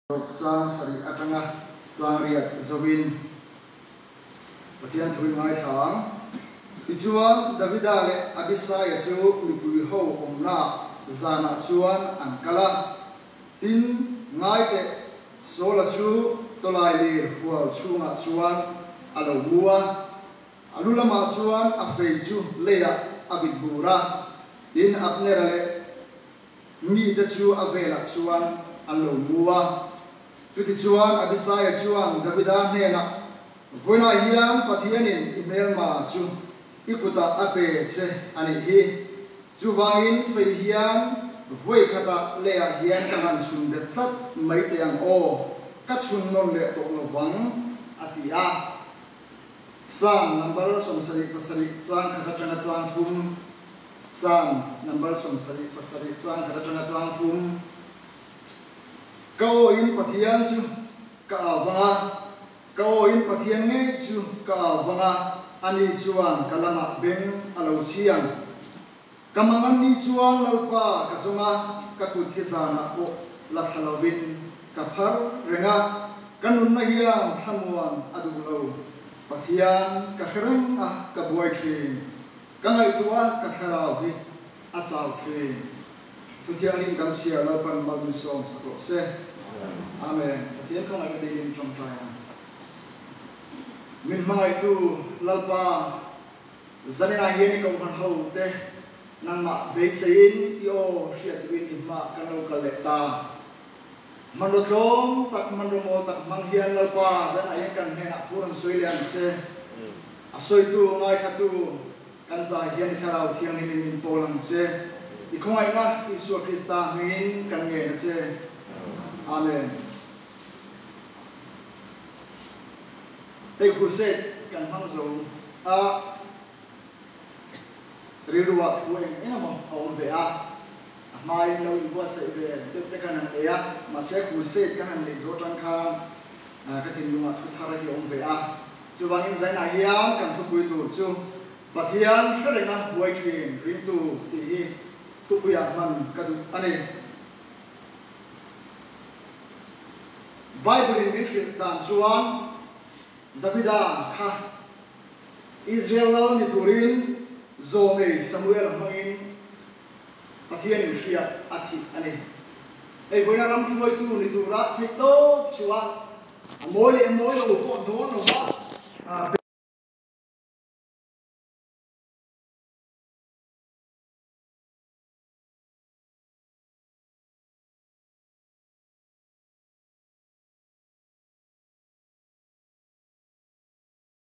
Tlawk chang sarih atanga changriat zoin Pathian thu in ngaithla ang. Tichuan, Davida leh Abisai-a chu mipui ho awmnaah zanah chuan an kal a. Tin, ngaiteh Saul-a chu tawlai lir hual chhungah chuan a lo mu a, a lu lamah chuan a fei chu leiah a vit bur a, tin Abnera leh. Mite chu a velah chuan an lo mu a. Chutichuan Abisai-a chuan Davida hnenah, Vawilah hian Pathianin i hmelma chu i kutah a pe che a nih hi. Chuvangin fei hian vawi khata leiah hian ka han chhun bet tlat mai teh ang aw, ka chhun nawn leh tawh lo vang, a ti a. Psalm number sawmsarih pasarih changkhat atanga changthum. Chang, number sawm sarih, pasarih, chang khat atanga chang pum. Ka aw in Pathian chu ka au vang a, ka aw in Pathian ngei chu ka au vang a, ani chuan ka lamah beng a lo chhiang. Ka mangawn ni chuan Lalpa ka zawng a, ka kut hi zanah pawh la thla lovin ka phar reng a, ka nunna hian thlamuan a duh lo. Pathian ka hre reng a, ka buai thin. Ka ngaihtuah a, ka thlarau hi a chau thin. Thu thianghlim kan chhiar lo pan mal min sawm sak loh se. Amen. Pathian ka ngaihna daily min tangkai a. Min hmangaihtu Lalpa, zanena hian i kauhman ho te nangmah beiseiin i aw hriat duhin i hma ka no kal leh ta. Hmanraw tlawm tak, hmanraw mawl tak hmang hian Lalpa Zana in kan hnenah thu rawn sawi leh ang che. A sawitu, ngaithlatu kan zai hian i Thlarau Thianghlim in min pawl ang che. I khawngaihna Isua Krista hmingin kan ngen a che. Amen. Hei khursate kan hmang zo a. Rilruah thu eng eng emaw a awm ve a, a hmaiin lo inbuatsaih ve det te ka han nei a, mahse crusade kan han neih zawh aṭang khan ka thinlungah thu thar a hi a awm ve a. Chuvangin zainah hian kan thupui tur chu Pathian hre renga buai ṭhin ringtu tih hi thupuiah hman ka duh a ni. Bible-in min hrilh dan chuan Davida kha. Israel lal ni turin zawng ei Samuela hmangin Pathian in hria a thih a ni. Eivawiin a ram hruaitu ni tura theih tawp chuan a mawi leh mawi lo pawh dawn lo va.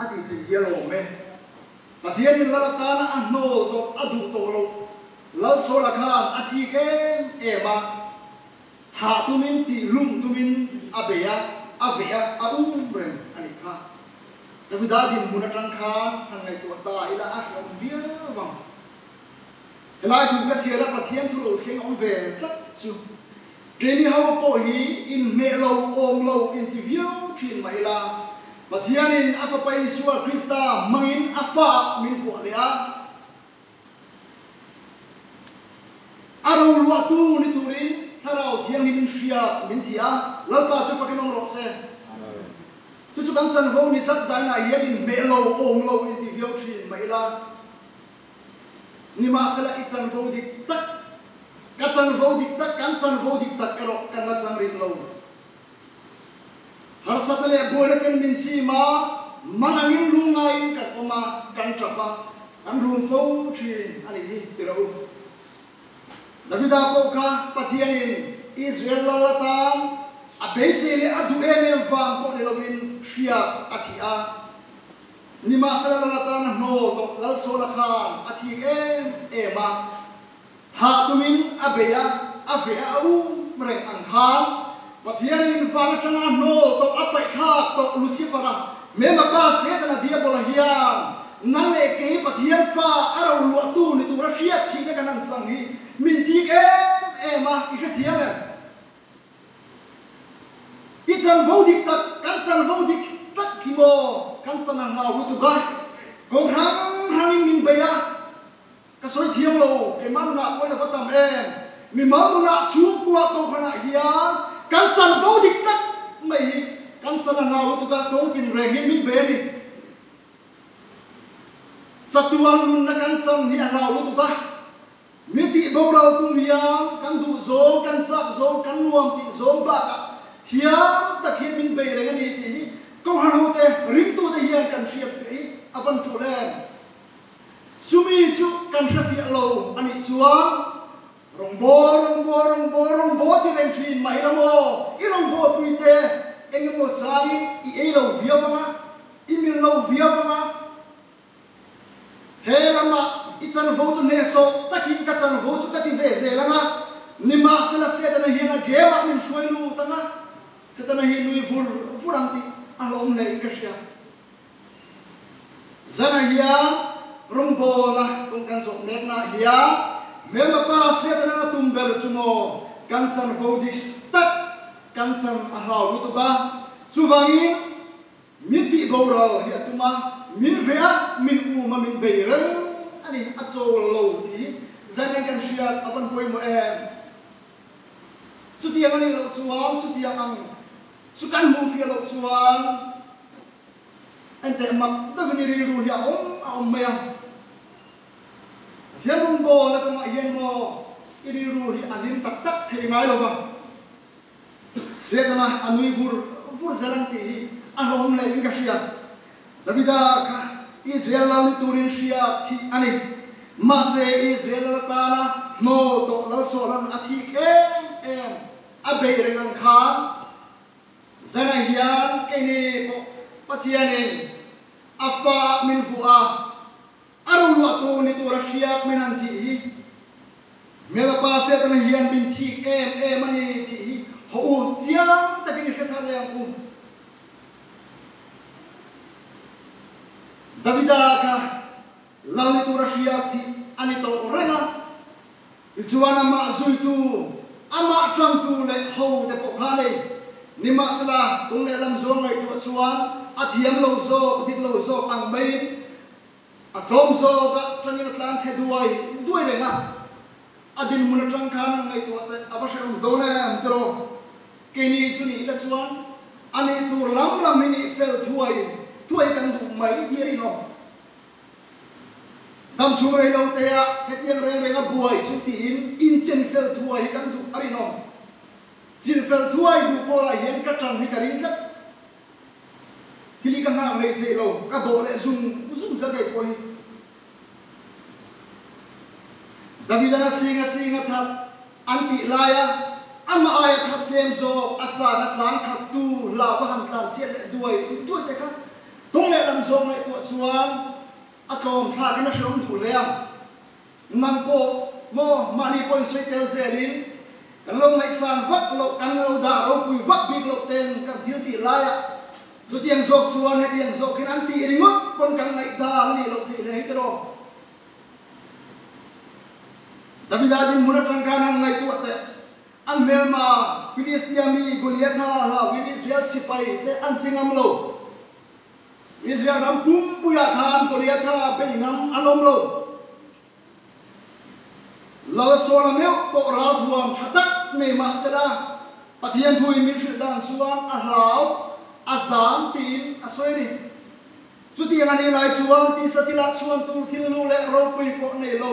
A titi hi a lawm e. Pathian in Lal atana a hnawl tawh, a duh tawh loh. Lal Sawla khan a thik em em a, thah tum in, tih lum tum in a be a, a veh a, a um reng a nih kha. Davida dinhmun atang khan han ngaihtuah ta ila a hriam viau vang. Helai thu ka chhiah la Pathian thu lo thleng awm ve tlat chu keini ho pawh hi in hneh lo awm lo in ti viau thin mah ila Pathian in a fapa Isua Krista hmangin a fa ah min fuah leh a. A roluah tu ni turin Thlarau Thianghlim in hria min ti a, Lalpa chu pakin awm rawh se. Chu chu kan chanvo ni tlat zainah hian in hneh lo awm lo in ti viau thin mah ila. Nimahsela i chanvo dik tak, ka chanvo dik tak, kan chanvo dik tak erawh kan la chang rih lo. Harsatna leh buaina ten min chim a, man angin lu ngaiin kan awm a, kan tap a, kan rum fo thin a ni hi ti loh u. Davida pawh kha Pathianin Israel lal atan a beisei leh a duh em em vang pawh ni loin hria a thih a. Nimahse Lal atana hnawl tawh Lalsawla khan a thik em em a, thah tumin a bei a, a ve a a um reng ang khan Pathianin val atanga hnawl tawh a paihthlak tawh Lucifera Mema pa Setana Diabola hian nang leh kei Pathian fa a roluahtu ni tura hriat thihna kan an chang hi min thik em em a, i hrethiam em? I chal vo dik tak, kan chal vo dik tak hi maw, kan chan a nghau lutuk a, kawng hrang hrang in min bei a, ka sawi thiam lo, keimah nunah pawi lo va tam em, mimal nunah chhung kuah to khan ah hian kan chal vo dik tak mai hi kan chan a nghau lutuk a, kawng tin reng in min bei a ni, chatuang nunna kan chan hi a nghau lutuk a. Mitih boral tum hian kan duh zawng, kan chak zawng, kan nuam tih zawng bakah thiang takin min bei reng a ni tih hi kawng hralhote, ringtute hian kan hriatfiah i a van ṭawlh em? Chumi chu kan hrefiah lo a nih chuan Rawngbaw, Rawngbaw, Rawngbaw, Rawngbaw ti reng ṭhin mah hi la maw? I Rawngbawipuite engemaw changin i ei lo viau ang a, i mir lo viau ang a. He lamah i chanvo chu hnehsawh takin ka chanvo chu ka ti ve zel anga, nimahsela Setana hian a game ah min hruai lut anga Setana hi nui vur vur ang tih a hlawm hleih ka hria. Zana hian Rawngbawl a kawng kan zawh mek naah hian hmelma pa Setana a tum ber chu maw kan chanvo dik tak kan chan a hlau lutuk a, chuvangin, Min tih boral hi a tum a, min hre a, min um a, min bei reng a ni, a chawl lo tih hi zan eng kan hriat a vawn pawimawh em? Chutiang a nih loh chuan chutiang ang chu kan hmuh fiah loh chuan enteh mak deuh i ni rilru hi a awm a awm mai a. Pathian rundawlna kawngah hian maw i rilru hi a hlim tak tak thei ngai lo va. Zênga a nui vur vur zel ang tih hi a hlawm hle in ka hria. Davida kha Israel lal ni turin hria thih a ni. Mahse, Israel lal atana hnaw tawh lalsawh lawn a thik em em a beih reng ang khan, zenah hian keini pawh Pathianin a fa a hmil vuah a. A roruah tur ni tura hriak min han zih hi hmela pa Setana hian min thik em em a ni tih hi haw u chiang takin i hre thar reng u. Davida kha lal ni tura hriak thih a ni tawh reng a, tichuan amah zuitu, amah ṭangtu leh hote pawh khan ei ni mahsela, kum leh lam zual ngaihtuah chuan a thiam lo zawk, dik lo zawk ang maiin, A tlawm zawk ah tangin a tlan chhe duai duai reng a, a din hmun atang khan an ngaihtuah teh a va hreh awm dawn em tiraw? Kei ni chu nih ila chuan a nih tur lam lam hi nih fel thuai thuai kan duh mai hi a rinawm. Dam chhung rei lo te ah hetiang reng reng a buai chu tiin in chen fel thuai hi kan duh a rinawm. Chilh fel thuai duh pawl ah hian ka tan hi ka ring tlat Thil hi ka nghak ngei theih lo, ka dawh leh zung zung zel ngei pawh hi. Davida na sing a sing a that an tih laia amah aia thatthem zawk a san a sang khattu hla va han tlan chhiat leh duai duai te kha tawng leh lam zawng ngei pawh chuan a tlawm thlak in a hreawm duh hle a. Nang pawh maw mahni pawhin sawi tel zelin kan lo ngaihsang vak loh, kan lo dah ropui vak bik loh te'n kan thil tih lai a. Chutiang zawk chuan heti ang zawkin an tih ringawt pawn kan ngaihdal a nih loh theih hle hi tiraw. Davida dinhmun atang khan han ngaihtuah teh, an hmelma Filistia mi Goliatha hlau in Israel sipai te an chi ngam lo. Israel ram pumpuiah khan Goliatha bei ngang a lawm lo. Lalsawna meuh pawh ralhuam tha tak nei mah sela, Pathian thu in min hrilh dan chuan a hlau, a zam tiin a sawi a ni. Chutiang a nih lai chuan tisa thil ah chhuan tur thilnu leh ropui pawh nei lo.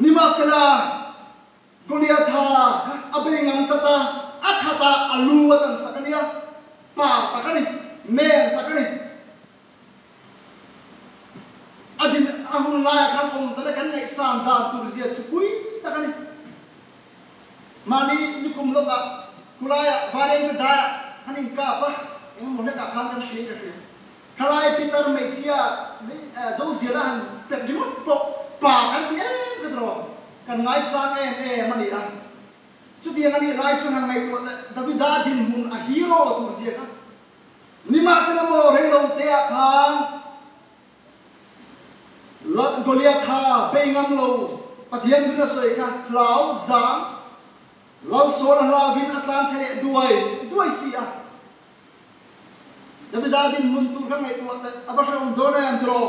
Nimasala Goliatha a bei ngam tlat a, a khata a lu a tansak a nia, pa tak a ni, men tak a ni. A din a hun laia khan awm tana kan ngaihsan dan tur zia chupui tak a ni. Mahni lukum lawkah, khulaiah, vanengte daiah han inkap a, engemaw hlekah khan kan hriaika hria. Khalai Peter hmeichhia Zoziala han pek ringawt pawh pa kan ti em ka ti rawh, kan ngaisang em em a ni a. Chutiang a nih lai chuan han ngaihtuah leh Davida dinhmun a hero tur zia kha. Nimahse lamawh reilo teah khan Goliath kha bei ngam lo, Pathian hun a sawi kha hlau zang lalsawna hlau in a tlan chhe leh duai duai si a, Davidin nun tur ka ngaihtuah a teh, a va hreawm dawn a em tiraw?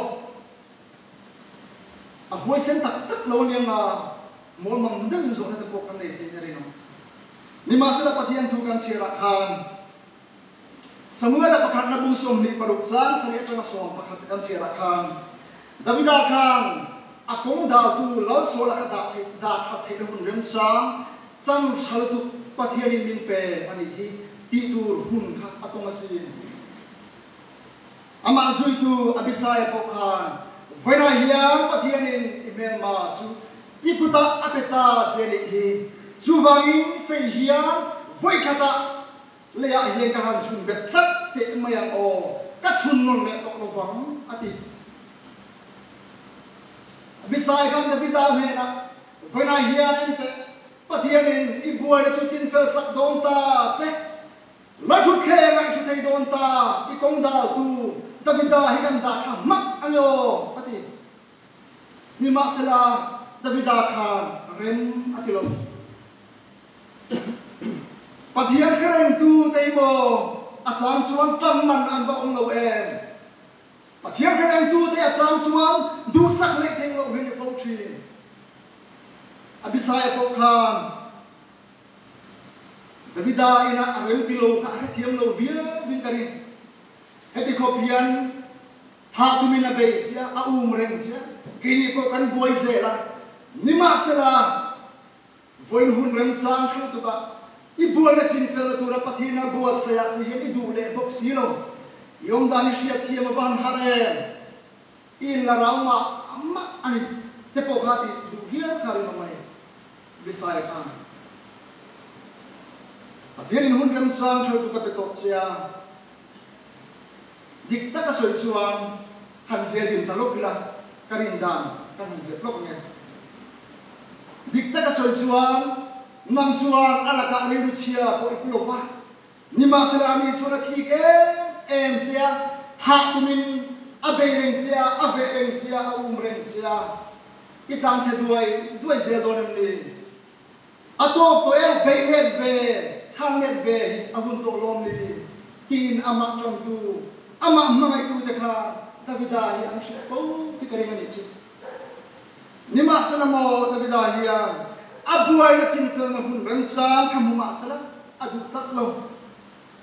A hmui sen tak tak lo aniang a, mawl mang deuhin zawhna te pawh kan nei thei herin ang. Nimahsela Pathian thu kan chhiarah khan Samuela pakhat nabung sawmhnih paruk chang sarih atanga sawm pakhat kan chhiarah khan Davida khan a kawng daltu Lalsawla kha dah dah that theih na hun remchang Chang chhal tuk Pathianin min pe a nih hi tih tur hun kha a tawng a si. Amah zuitu Abisai pawh khan, Vawiinah hian Pathianin i hmelma chu i kutah a pe ta che a nih hi, chuvangin fei hian vawi khatah leiah hian ka han chhun bet tlat teh mai ang aw, ka chhun nawn leh tawh lovang, a ti. Abisai khan Davida hnenah. Hunah hian enteh Pathianin i buaina chu chinfelsak dawn ta che. La thutthleng a i thu thei dawn ta, i kawng daltu Davida hi kan dah tha hmak a ni aw a ti. Nimahsela, Davida khan rem a ti lo. Pathian kherengtute hi maw a chang chuan ṭan man an va awm lo em? Pathian kan entu te a chang chuan duhsak neih theng loh hian i fo thin. A Bisaya pawh khan Davida inah a remti lo kha a hrethiam lo viau vin ka ni. Heti khawp hian thah tumin a bei chiah, a um reng chiah. Keinih pawh kan buai zel a, nimahsela, Vawiin hun rem chang theuh tuk ah i buaina chinfel na tur a pathian a buatsaih ah chiah hian i duh leh bawk si lo. I awm dan hi hriatthiam a va han harh em? I in la rau mah mah a ni te pawh kha i duh hial kha ringawm a ni. Messiah kha a ni. Pathian in hun rem chang theuh tuk a pe tawh che a, dik tak a sawi chuan, Kan zia din ta lawk ila, ka rin dan ka han zep lawk nge. Dikna ka sawi chuan, Nang chuan a lakah rilru chhia pawh i pu lo va, nimahsela ani chuan a thik em em che a, thah tumin a bei reng che a, a veh reng che a, a um reng che a. I tlanchhe duai duai zel dawn em ni? A tawk tawh eu, bei het ve, chhang let ve hi a hun tawh lawm li, tiin amah ṭantu, amah hmangaitute kha Davida hi an hrilh fo khi ka ring a nih chih. Nimahsela maw Davida hian a buaina chinfelna hun remchang kha hmu mahsela a duh tlat lo.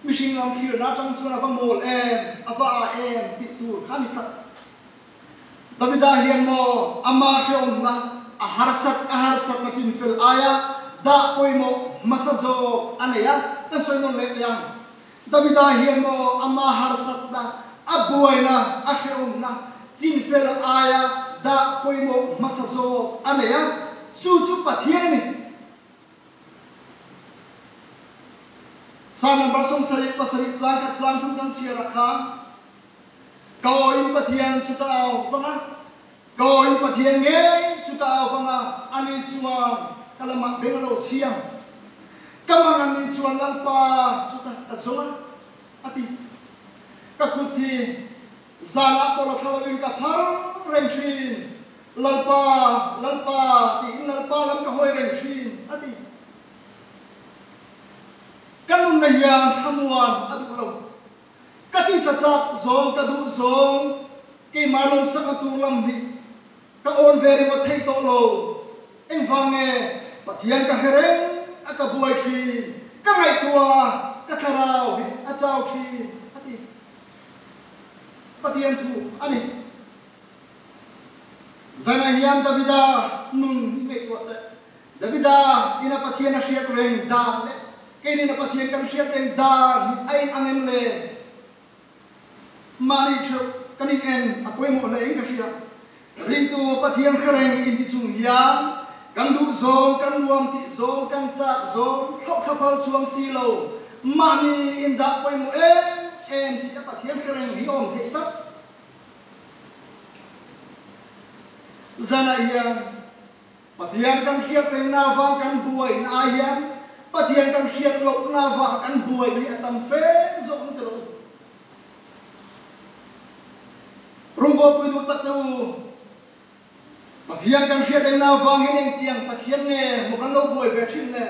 Mihring lam thlir na ṭang chuan a va mawl em, a va ah em tih tur kha ni tlat. Davida hian maw ama hreawmna a harsat a harsatna chin fel aia dah pawimawh hmasa zawk a nei a? Kan sawi nawn leh teh ang. Davida hian maw ama harsatna, a buaina, a hreawmna chin fel aia dah pawimawh hmasa zawk a nei a? Chu chu Pathian a ni. Psalm number sawmsarih pasarih tlangkhat tlangthum kan chhiarah kha. Ka aw in Pathian chu ka au vang a, ka aw in Pathian ngei chu ka au vang a, ani chuan ka lamah beng a lo chhiam. Ka mang a ni chuan Lalpa chu ka ka zawng a, a ti. Ka kut hi zan ah pawh la thla loin ka phar reng thin. Lalpa, Lalpa tiin Lalpa lam ka hawi reng thin, a ti. Ka nunna hian thlamuan a duh lo. Ka tisa chak zawng ka duh zawng keimah lawm sangha tur lam hi ka awn ve ringawt thei tawh lo. Engvange Pathian ka hre reng a ka buai thin ka ngaihtuah a ka thlarau hi a chau thin a ti. Pathian thu a ni. Zana hian Davida nun hi ngaihtuah teh. Davida in a Pathian a hriat reng dar leh keinin a Pathian kan hriat reng dar hi a in ang em le? Mahni theuh kan in en a pawimawh hlei ka hriat. Ringtu Pathian hre reng in hi chung hian kan duh zawng, kan nuam tih zawng, kan chak zawng, thlauh thla phal chuang si lo, mahni in dah pawimawh em em si a Pathian hre reng hi awm theih tak. Zanah hian Pathian kan hriat rengna vang kan buai in ai hian Pathian kan hriat lohna vang kan buai hi a tam fe zawk ni ta lo. Rawngbawipuii duh takte u, Pathian kan hriat rengna vangin engtiang tak hian nge maw kan lo buai ve thin le?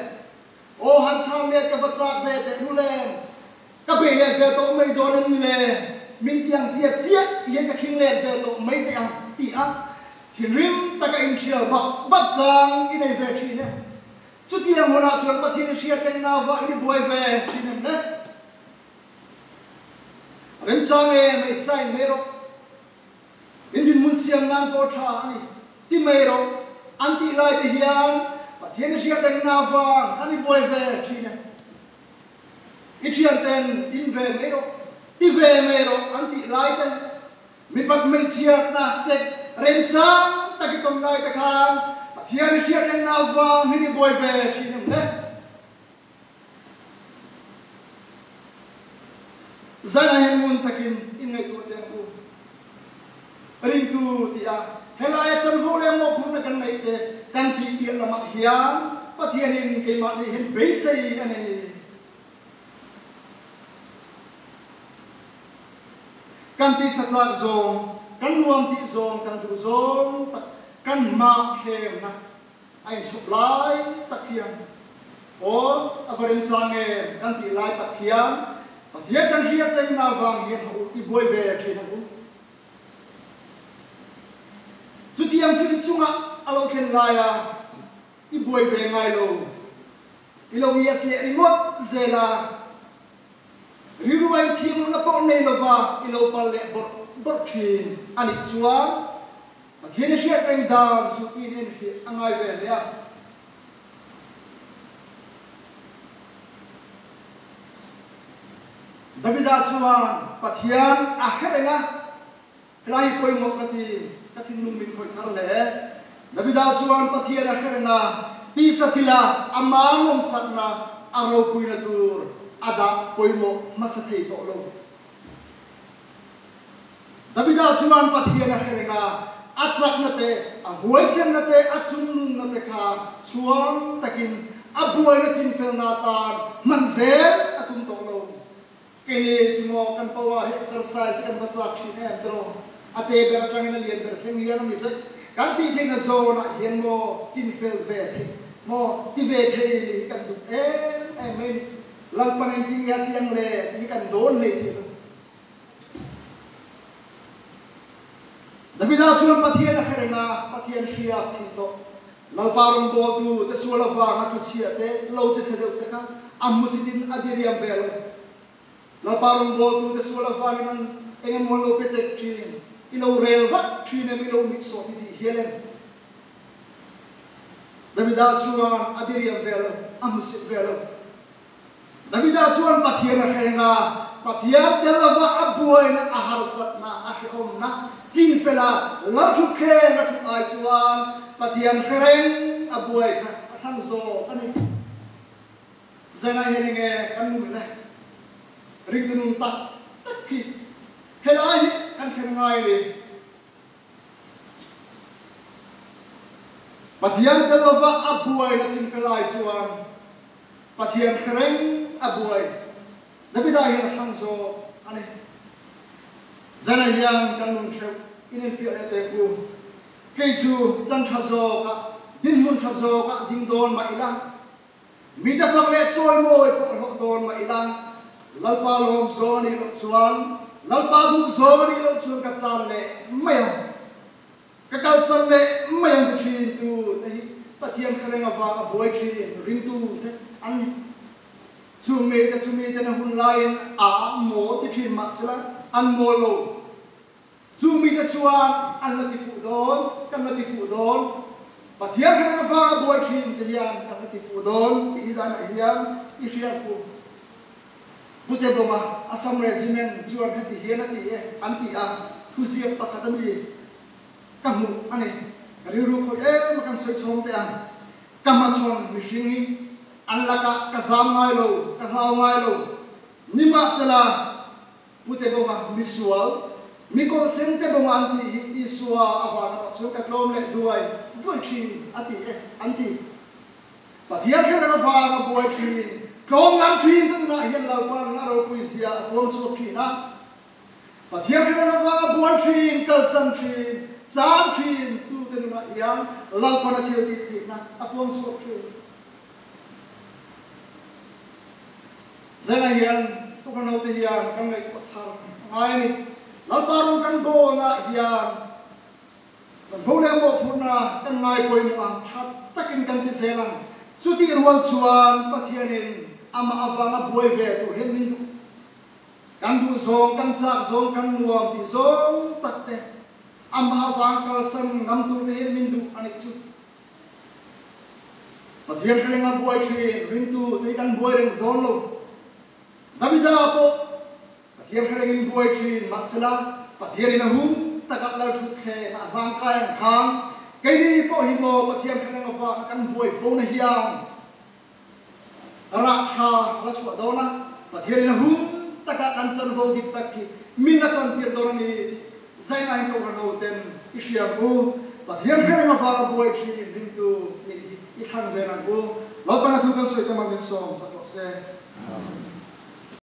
Aw han chhang met ka va chak ve teh nu le, ka be let ve tawh mai dawn a ni le, min ti ang tia chiah i hian ka khing let ve tawh mai teh ang tih a thinrim taka inthial bap bap chang i nei ve thin em? Chutiang hunah chuan Pathian i hria teng nava in i buai ve thin em le? Remchang e, mei sa in mei rawh. Min dinhmun siam nan pawh tha a ni. Ti mai rawh an tih lai te hian Pathian i hriat reng na vang kan i buai ve thin e. I thianten din ve mai rawh, ti ve mai rawh an tih lai te leh mipat hmeichhia hna sex remchang tak i ton lai te khan Pathian i hriat reng na vang hin i buai ve thin em le? Zanah hian ngun takin inngaihtuah te an um. Ringtu tia helaia chanvo leh mawp hmurna kan neih te kan tih piah lamah hian Pathianin keimah nei hian beisei a nei. Kan tisa tlak zawng, kan nuam tih zawng, kan duh zawng tak kanmah thlemna. A inchhawp lai tak hian, Aw, a va rem chang e kan tih lai tak hian, Pathian kan hriat reng na vang hian hawh u, i buai ve thin ang u. Chutiang chu i chungah a lo thlen lai a, i buai ve ngai lo, i lo miah si leh ringawt zel a, rilruai thiamloh na pawh nei lova i lo palh leh bawrh bawrh thin a nih chuan, Pathian a hriat reng dan chu tiin en fiah a ngai ve hle a. Davida chuan Pathian a hre reng a, helai hi pawimawh ka ti, ka thinlung min khawih thar hle. Davida chuan Pathian a hre reng a, pisa thil a a man awmsakna a ropuina tur a dah pawimawh hmasa thei tawh lo. Davida chuan Pathian a kherek a, a chakna te, a huaisirna te, a chungnunna te kha chhuang takin a buaina chinfelna tan hman zel a tum tawh lo. Keini chu maw kan pawnga hi exercise hi kan va chak thin em tiraw? A te ber atangin a lian ber theng hian a ni vek. Kan tih theihna zawnah hian maw chinfel ve theih maw ti ve thei nih hi kan duh em em mai a ni. Lalpanin timi a tiang le tih hi kan dawn hlei thei lo. Davida chuan Pathian a khereng a, Pathian hriat thil tawh. Lalpa rawngbawltu te sual avang a tluchhiah te lo che chhe deuh te kha a hmu sitin a diriam ve lo. Lalpa rawngbawltu te sual avangin an eng emaw an lo pe tek thin, i lo rel vat thin em, i lo mit sawh ti tih hial em? Davida chuan a diriam ve lo, a hmu sip ve lo. Davida chuan Pathian a hreng a, Pathian te lova a buaina, a harsatna, a hrehawmna chin fel a, lam ṭhut thleng a ṭhu ai chuan Pathian hrereng a buai kha a thlang zawk a ni. Zenah hian enge kan ngun le? Ringtunun tak tak hi helai hi kan thlen ngai a ni. Pathian te lova a buai na chin ka lai chuan Pathian thleng a buai Davida hian a thlang zawk a ni. Zanah hian kan nun theuh in infiah leh teh u. Kei chu chang tha zawkah, dinhmun tha zawkah ding dawn mah ila Mi te fak leh chawi mawi pawh hlawh dawn mah ila, Lalpa lawm zawn i loh chuan Lalpa duh zawn i loh chuan ka chan leh mai ang, ka kalsan leh mai ang ka thin. Tu te hi Pathian thleng avanga buai thin ring tu te an ni. Chung ngei te chu mi ten a hun laiin aa mawl ti thin mah sela, an mawl lo. Chung mite chuan an la tifuh dawn, kan la tifuh dawn, Pathian kha kan vanga buai thin te hian kan la tifuh dawn tih hi zanah hian i hriat kum. Pu Tebawma Assam Regiment chuan heti hian a ti e, an ti a, Thuziak pakhat a ni, ka hmuh a ni, rilru khawih em a kan sawi chhawm teh a, ka hmachhawn mihring hi an lakah ka zam ngai lo, ka hlau ngai lo, nimahsela, Pu te bawng a, misual, mi kawlseng te bawng a an tih hi Isua a van lamah chuan ka tlawm leh duai duai thin a ti e an ti. Pathian kher ang avanga buai thin, tlawm lam thin te tunah hian lo pan in a ropui zia a tuam chhuak thin a. Pathian kher ang avanga buai thin, kalsan thin, chang thin tu te nunah hian lo pan a thil tih theihna a tuam chhuak thin. Zenah hian Tuka naute hian kan ngaihtuah thar a ngai a ni. Lalpa rawng kan dawnah hian Chawlhno leh Maw phurhna kan ngai pawimawh ang tha takin kan ti zel ang. Chutih rual chuan Pathianin amah avanga buai ve tur hian min duh. Kan duh zawng, kan chak zawng, kan nuam tih zawng takte amah avang kalsan ngam turte hian min duh a nih chu. Pathian ka ringa buai thin, ringtu tei kan buai reng dawn lo. Davida pawh Pathian ka rengin buai thin, mahsela Pathian in a hum takah lal thut thleng a hlang kai ang khang. Keini pawh hi maw Pathian ka reng avanga kan buai fona hian? A rah tha a la chhuah dawn a, Pathian in a hun takah kan chanvo dik tak khi min a chantir dawn a ni tih zaina in kohhran ho ten i hriam u, Pathian kher eng avanga buai thin in hlim tu mi hi i thlang zel ang u, Lawtbanna thu kan sawi te mah min sawm sak rawh se. Amen.